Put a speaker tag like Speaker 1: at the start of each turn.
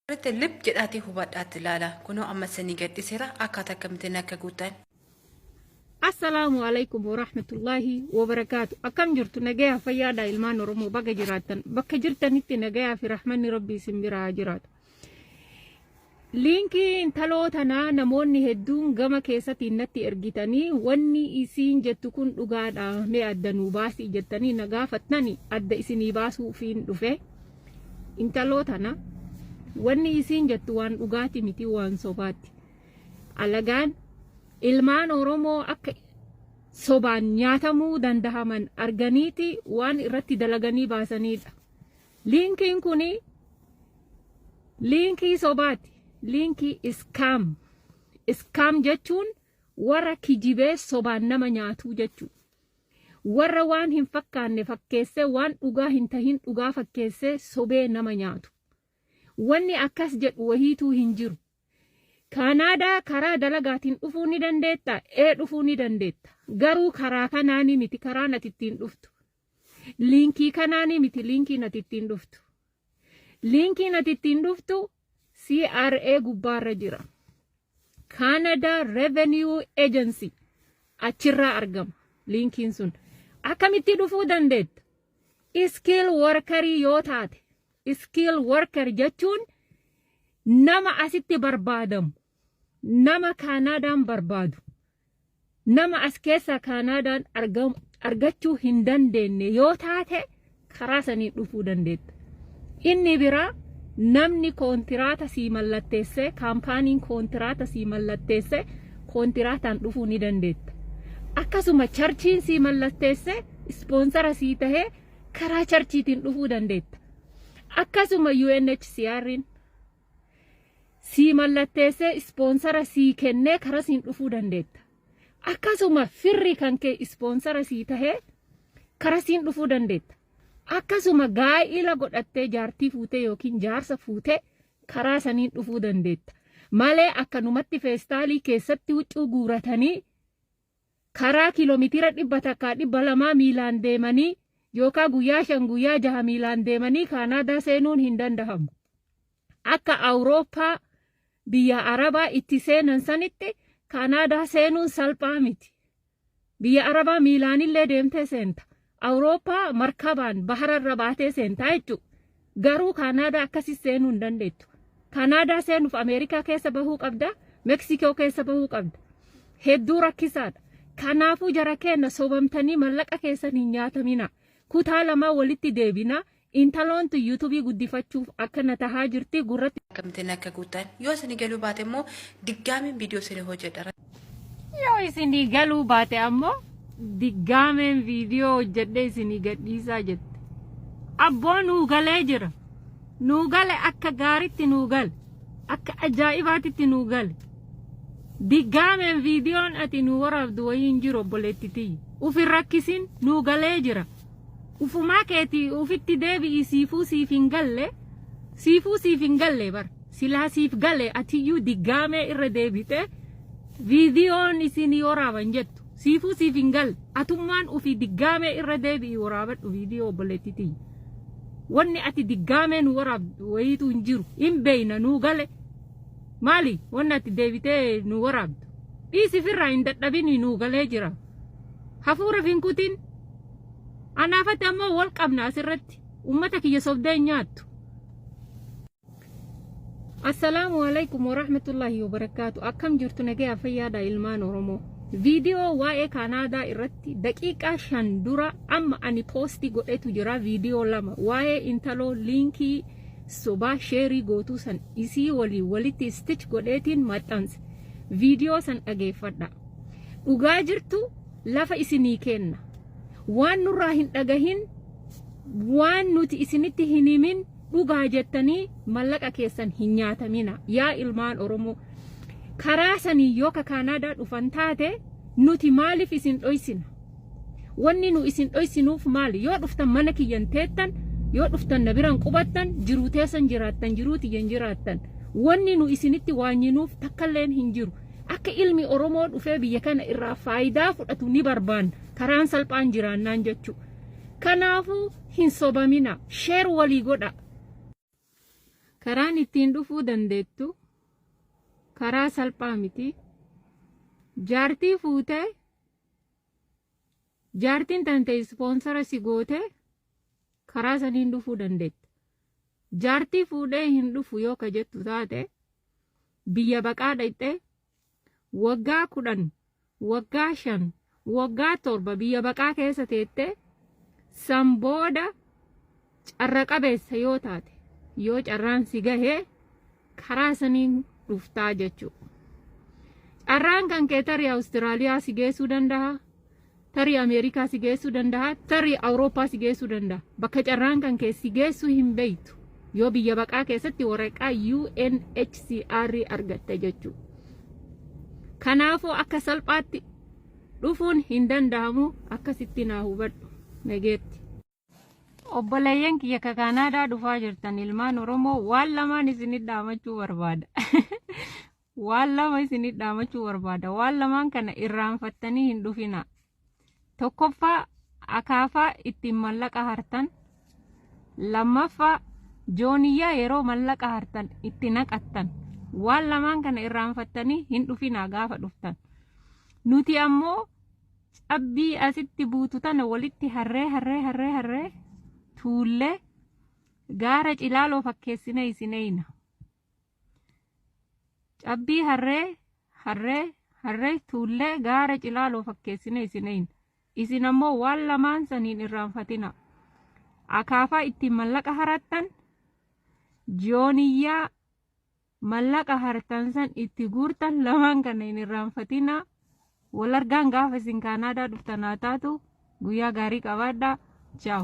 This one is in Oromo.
Speaker 1: Walitti lip jedhaatii hubadhaatti ilaala. Kunoo amma isinii gadhiseera akkaataa akkamittiin akka guuttan.
Speaker 2: Assalaamu alaikum warahmatullaahi wabarakaatu. Akkam jirtu nagayaa fayyaadha ilmaan Oromoo baga jiraattan. Bakka jirtanitti nagayaa fi rahmanni rabbii isin biraa haa jiraatu. Liinkii intaloo tanaa namoonni hedduun gama keessatiin natti ergitanii wanni isiin jettu kun dhugaadha mee adda nuu baasii jettanii na gaafattani adda isinii baasuufiin dhufe. Intaloo tana wanni isiin jettu waan dhugaati miti waan sobaatti. Alagaan ilmaan Oromoo akka sobaan nyaatamuu dandahaman arganiiti waan irratti dalaganii baasaniidha. Liinkiin kun liinkii sobaati. Liinkii iskaam. Iskaam jechuun warra kijibee sobaan nama nyaatuu jechuudha. Warra waan hin fakkaanne fakkeessee waan dhugaa hin tahin dhugaa fakkeessee sobee nama nyaatu. Wanni akkas jedhu wahiituu hin jiru. Kaanaadaa karaa dalagaatiin dhufuu ni dandeettaa? Ee dhufuu ni dandeetta. Garuu karaa kanaanii miti karaan ati ittiin dhuftu. Liinkii kanaanii miti liinkiin ati ittiin dhuftu. Linkiin ati ittiin dhuftu CRA gubbaarra jira. Canada Revenue Agency achirraa argama linkiin sun. Akkamitti dhufuu dandeetta? Iskiil workarii yoo taate, iskiil workar jechuun nama asitti barbaadamu, nama kaanaadaan barbaadu nama as keessaa kaanaadaan argachuu hin dandeenye yoo taate karaa saniin dhufuu dandeetta. Inni biraa namni koontiraata sii mallatteessee kaampaaniin koontiraata sii mallatteessee koontiraataan dhufuu ni dandeetta. Akkasuma charchiin sii mallatteessee ispoonsara sii tahee karaa charchiitiin dhufuu dandeetta. Akkasuma UNHCR'n sii mallatteessee ispoonsara sii kennee karaa siin dhufuu dandeetta. Akkasuma firri kan kee ispoonsara sii tahee karaa siin dhufuu dandeetta. Akkasuma gaa'ila godhattee jaartii fuutee yookiin jaarsa fuutee karaa saniin dhufuu dandeetta. Malee akkanumatti feestaalii keessatti huccuu guuratanii karaa kiiloomitiira dhibba takkaa dhibba lamaa miilaan deemanii yookaan guyyaa shan guyyaa jaha miilaan deemanii kaanaadaa seenuun hin dandahamu. Akka Awurooppaa biyya Arabaa itti seenan sanitti kaanaadaa seenuun salphaa miti. Biyya Arabaa miilaanillee deemtee seenta. Awurooppaa markabaan bahara irra baatee seentaa jechuudha. Garuu Kaanaadaa akkasii seenuu hin dandeettu. Kaanaadaa seenuuf Ameerikaa keessa bahuu qabda, Meksikoo keessa bahuu qabda. Hedduu rakkisaadha. Kanaafuu jara keenya sobamtanii mallaqa keessan hin nyaatamina. Kutaa lamaa walitti deebina. Intaloon tun yutubii guddifachuuf akka na tahaa jirti gurratti. Akkamittiin akka guuttan
Speaker 1: yoo isin galuu baate immoo diggaamiin viidiyoo isin hojjedha. Yoo
Speaker 2: isin galuu baate ammoo diggaameen viidiyoo hojjedhee isin gadhiisaa jette. Abboo nuu galee jira. Nuu gale akka gaaritti nuu gale. Akka ajaa'ibaatitti nuu gale. Diggaameen viidiyoon ati nuu waraabdu wayii hin jiru obboleetti tiyya. Ufin rakkisin nuu galee jira. Ufumaa keeti ufitti deebi'i siifuu siif hin galle siifuu siif hin galle bar silaa siif gale atiyyuu diggaamee irra deebite viidiyoon isinii waraaban jettu siifuu siif hin galle atummaan ufi diggaamee irra deebi'i waraabadhu viidiyoo obboleettii tiyya wanni ati diggaamee nu waraabdu wayiitu hin jiru hin beeyna nuu gale maali wanni ati deebitee nu waraabdu dhiisi firraa hin dadhabini nuu galee jira. hafuura hin kutin anaafatti ammoo wal qabna asirratti ummata kiyya sobdee hin nyaattu assalaamu alaikum warahmatullaahi wabarakaatu akkam jirtu nagaya fayyaadha ilmaan oromoo viidiyoo waa'ee kaanaadaa irratti daqiiqaa shan dura amma ani poostii godhetu jira viidiyoo lama waa'ee intaloo liinkii sobaa sheerii gootuu san isii waliin walitti stich godheetiin maxxanse viidiyoo san dhageeffadha Dhugaa jirtu lafa isinii keenna. Waan nurraa hin dhagahin waan nuti isinitti hin himin dhugaa jettanii mallaqa keessan hin nyaatamina yaa ilmaan Oromoo. Karaa sanii yoo ka Kaanaadaa dhufan taate nuti maaliif isin dhoysina? Wanni nu isin dhoysinuuf maali? Yoo dhuftan mana kiyyan teettan yoo dhuftan na biran qubattan jiruu teessan jiraattan jiruu tiyyan jiraattan. Wanni nu isinitti waanyinuuf takkalleen hin jiru. Akka ilmi Oromoo dhufee biyya kana irraa faayidaa fudhatu ni barbaanna. Karaan salphaan jiraannaan jechuu. Kanaafuu hin sobamina. Sheer walii godha. Karaan ittiin dhufuu dandeettu karaa salphaa miti. Jaartii fuutee jaartiin tante ispoonsara si gootee karaa saniin dhufuu dandeetta. Jaartii fuudhee hin dhufu yoo ka jettu taate biyya baqaa dhayxee waggaa kudhan waggaa shan waggaa torba biyya baqaa keessa teettee san booda carra qabeessa yoo taate yoo carraan si gahee karaa saniin dhuftaa jechuudha. Carraan kan keetarii Awustiraaliyaa si geessuu danda'a. Tarii Ameerikaa si geessuu danda'a, tarii Awurooppaa si geessuu danda'a. Bakka carraan kan kee si geessuu hin beektu. Yoo biyya baqaa keessatti waraqaa UNHCR argatte jechuudha. Kanaafuu akka salphaatti dhufuun hin danda'amu akkasitti naa hubadhu. Nageetti. Obboleeyyan kiyya ka Kaanaadaa dhufaa jirtan ilmaan Oromoo waan lamaan isinit dhaamachuu barbaada. waan lama isinit dhaamachuu barbaada. Waan lamaan kana irraanfattanii hin dhufina. Tokkoffaa akaafaa ittiin mallaqa hartan. Lammaffaa jooniyyaa yeroo mallaqa hartan itti naqattan. Waan lamaan kana irraanfattanii hin dhufina gaafa dhuftan. Nuti ammoo Cabbii asitti buutu tana walitti harree harree harree harree tuullee gaara cilaaloo fakkeessine isin eeyna. Cabbii harree harree harree tuullee gaara cilaaloo fakkeessine isin eeyna. Isin ammoo waan lamaan saniin irraanfatina. Akaafaa ittiin mallaqa harattan, jooniyyaa Mallaqa hartan san itti guurtan lamaan kana hin irraanfatinaa. Wal argaan gaafa isin Kaanaadaa dhuftan haa taatu. Guyyaa gaarii qabaadhaa. Ciao.